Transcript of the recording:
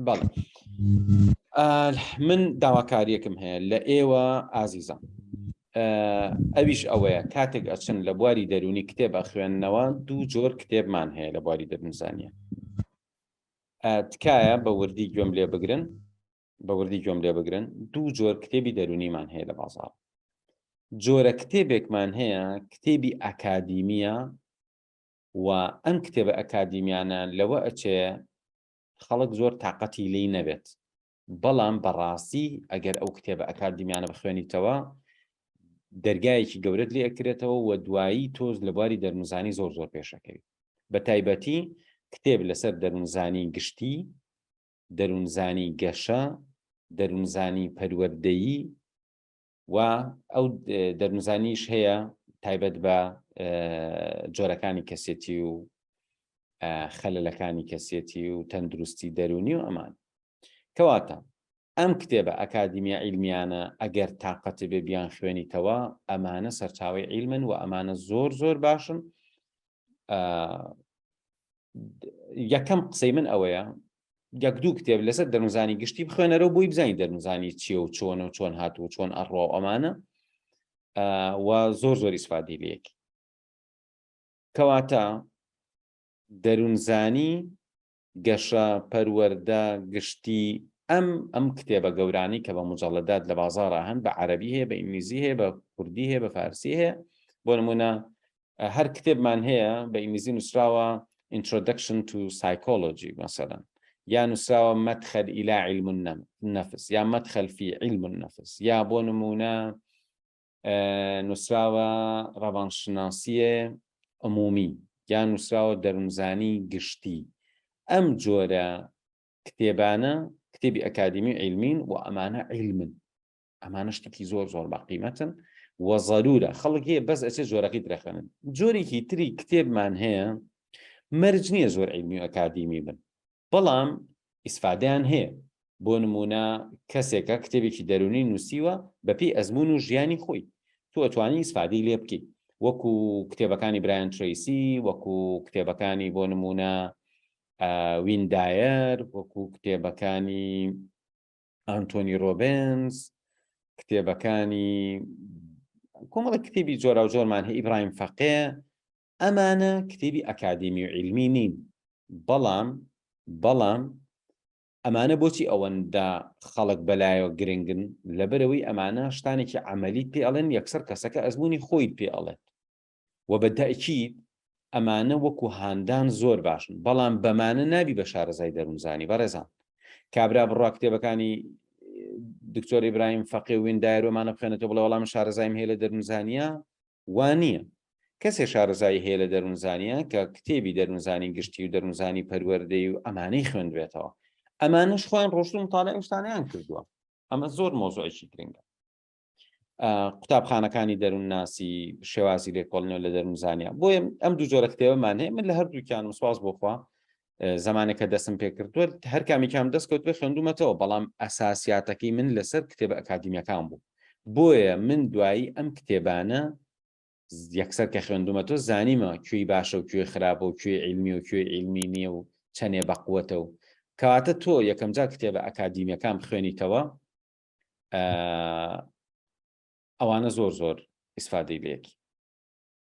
بەڵێ من داواکاریەکم هەیە لە ئێوە ئازیزان ئەویش ئەوەیە کاتێک ئەچن لە بواری دەرونی کتێب ئەخوێندنەوە دوو جۆر کتێبمان هەیە لە بواری دەبنزانە تکایە بە وردی گوێم لێ بگرن بە وردی گوێم لێ بگرن دوو جۆر کتێبی دەرونیمان هەیە لە بازار جۆرە کتێبێکمان هەیە کتێبی ئەکادیمیە و ئەم کتێبە ئەکادیمیانە لەوە ئەچێ خەڵک زۆر تاقەتی لێی نەبێت بەڵام بەڕاستی ئەگەر ئەو کتێبە ئەکادیمیانە بخوێنیتەوە دەرگایەکی گەورەت لێ ئەکرێتەوە و دوایی تۆز لە بواری دەرمزانی زۆر زۆر پێشەکەوی بە تایبەتی کتێب لەسەر دەرونزانی گشتی دەرونزانی گەشە دەرونزانی پەروەردەیی و ئەو دەرمزانیش هەیە تایبەت بە جۆرەکانی کەسێتی و خەلەلەکانی کەسێتی و تەندروستی دەرونی و ئەمان کەواتە ئەم کتێبە ئەکادیمیە ئیلمیانە ئەگەر تااقەتی بێ بیان خوێنیتەوە ئەمانە سەرچاوی ئیلمن و ئەمانە زۆر زۆر باشن یەکەم قسەی من ئەوەیە یەک دوو کتێب لەسەر دەنوزانی گشتی بخوێنەرەوە بۆی بزانانی دەنوزانی چیە و چۆن و چۆن هات و چۆن ئەڕۆ ئەمانە و زۆر زۆری سفادی لەکی کەواتە دەروونزانی گەشە، پەروەردە، گشتی، ئەم ئەم کتێبە گەورانەی کە بە موجەڵەدات لە بازاڕا هەن بە عەرەبی هەیە بە ئینگلیزی هەیە بە کوردی هەیە بە فارسی هەیە بۆ نمونە هەر کتێبمان هەیە بە ئینگلیزی نووسراوە Introduction to Psychology مثلا یا نووسراوە مەدخەل ئیلا علم النفس یا مەدخەل فی علم النفس یا بۆ نمونە نووسراوە ڕەوانشناسیی عمومی یان نووسراوە دەروونزانی گشتی، ئەم جۆرە کتێبانە کتێبی ئەکادیمی و عیلمین و ئەمانە عیلمن ئەمانە شتێکی زۆر زۆر باقیمەتن و ضرورە خەڵک هەیە بەس ئەچێ جۆرەکەی درەخەنن جۆرێکی تری کتێبمان هەیە مەرج نییە زۆر عیلمی و ئەکادیمی بن بەڵام ئیسفادەیان هەیە، بۆ نموونە کەسێکە کتێبێکی دەروونی نووسیوە بەپێی ئەزموون و ژیانی خۆی، تۆ ئەتوانی ئیسفادەی لێ بکەی، وەکو کتێبەکانی برایان ترەیسی، وەکو کتێبەکانی بۆ نموونە وین دایەر، وەکو کتێبەکانی ئانتۆنی ڕۆبنز، کتێبەکانی کۆمەڵە کتێبی جۆراوجۆرمان هەیە، ئیبراهیم فەقێ، ئەمانە کتێبی ئەکادیمی و عیلمی نین بەڵام بەڵام ئەمانە بۆچی ئەوەندە خەڵک بەلایەوە گرنگن لەبەرەوەی ئەمانە شتانێکی عملی پێ ئەڵێن یەکسەر کەسەکە ئەزمموی خۆی پێ ئەڵێت و بە دایکی ئەمانە وەکو هاندان زۆر باشن بەڵام بەمانە نابی بە شارەزای دەروونزانی بەڕێزان کابرا بڕا کتێبەکانی دکتۆر ئیبراهیم فەقێ وین دایرۆمانە بخێنێتەوە بڵێ وەڵام شارەزایم هەیە لە دەروونزانە وا نییە. کەسێ شارەزایی هەیە لە دەروونزانییە کە کتێبی دەروونزانی گشتی و دەروونزانی پەروەردەی و ئەمانەی خوێندبێتەوە. ئەمانەش خۆیان ڕۆشتوون متاڵەی ئەو شتانەیان کردووە. ئەمە زۆر مەوزوعێکی گرنگە. قوتابخانەکانی دەروونناسی، شێوازی لێکۆڵینەوە لە دەروونزانییە. بۆیە ئەم دوو جۆرە کتێبەمان هەیە. من لە هەردووکیانم سوپاس بۆ خوا زمانێکە دەستم پێکردووە هەر کامیکام دەست کەوت پێ خوێندومەتەوە بەڵام ئەساسیاتەکەی من لەسەر کتێبە ئەکادیمیەکان بوو بۆیە من دوایی ئەم کتێبانە یەکسەر کە خوێندومە تۆ زانیمە کوێی باشە و کوێ خراپە و کوێ علمی و کوێ علمی نییە و چەنێ بەقوەتە و کەواتە تۆ یەکەم جا کتێبە ئەکادیمیەکان خوێنیتەوە ئەوانە زۆر زۆر ئیسفادەی لەکی